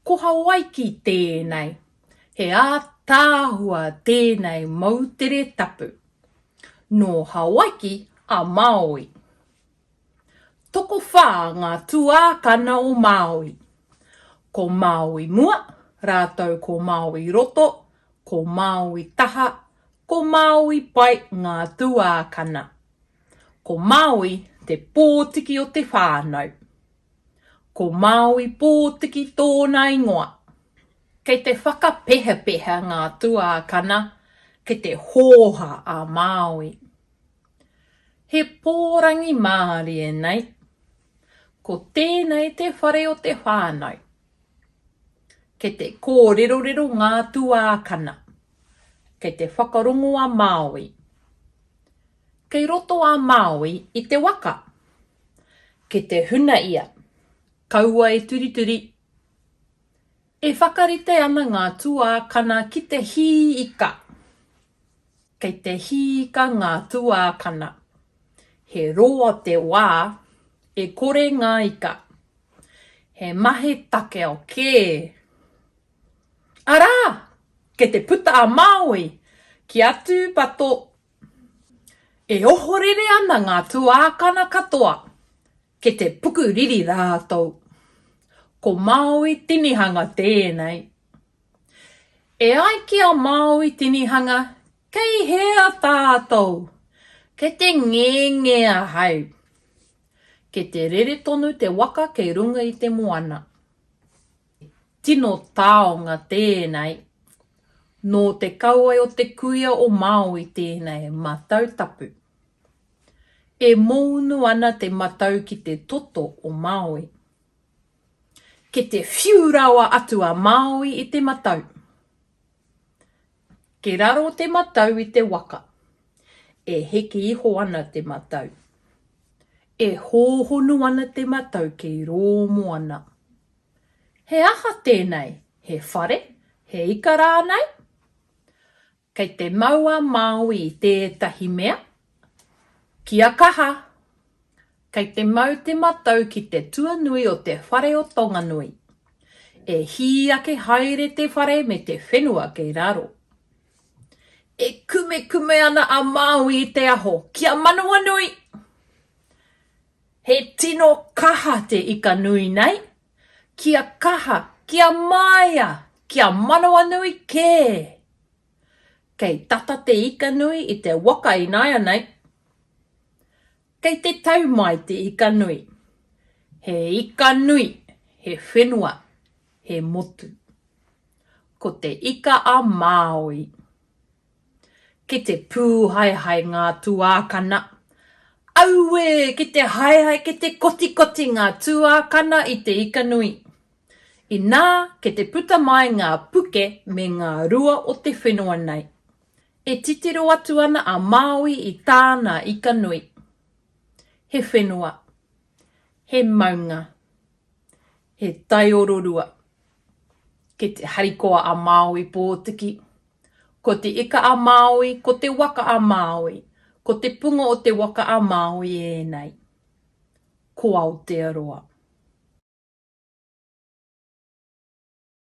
Koha waiki tēnei, he ātaahua tēnei moutere tapu. Nō Hawaiki a Māui. Tokowhā ngā tuākana o Māui. Ko Māui mua rātou ko Māui roto, ko Māui taha, ko Māui pai ngā tuākana. Ko Māui te pōtiki o te whānau. Ko Māui pōtiki tōna ingoa. Kei te whakapehapeha ngā tuākana ki te hōha a Māui. He pōrangi mārie nei. Ko tēnei te whare o te whānau. Kei te kōrerorero ngā tuākana. Kei te whakarongo a Māui. Kei roto a Māui i te waka. Ki te huna ia. Kaua e turituri. E whakarite ana ngā tuākana ki te hī ika. Kei te hī ika ngā tuākana. He roa te wā. E kore ngā ika. He mahi takeo kē. Arā! Kei te puta a Māui ki a Tūpato E ohorere ana ngā tuākana katoa ki te puku riri rātou. Ko Māui tinihanga tēnei. E ai ki a Māui tinihanga, kei hea tātou? Kei te ngenge ahau. Kei te rere tonu te waka kei runga i te moana. tino taonga tēnei, nō te kauae o te kuia o Māui tēnei matau tapu. E mōunu ana te matau ki te toto o Māui. Ke te whiu rawa atu a Māui i te matau. Ke raro te matau i te waka. E heke iho ana te matau. E hōhonu ana te matau kei rō moana. He aha tēnei, he whare, he ika rānei? Kei te mau a Māui i tētahi mea, kia kaha! Kei te mau te matau ki te tuanui o te whare o Tonganui. E hī ake haere te whare me te whenua kei raro. E kumekume ana a Māui i te aho, Kia Manawanui! He tino kaha te ika nui nei, kia kaha, kia māia, kia manawanui kē! Kei tata te ika nui i te waka ināianei. Kei te tau mai te ika nui. He ika nui, he whenua, he motu. Ko te ika a Māui. Ki te pūhaehae ngā tuākana. Auē! Ki te haehae, ki te kotikoti ngā tuākana i te ika nui. Inā, ki te puta mai ngā puke me ngā rua o te whenua nei. E titiro atu ana a Māui i tāna ika nui. He whenua. He maunga. He taiororua. Ki te harikoa a Māui Pōtiki. Ko Te Ika-a-Māui, ko Te Waka-a-Māui, ko te punga o Te Waka-a-Māui ēnei. Ko Aotearoa.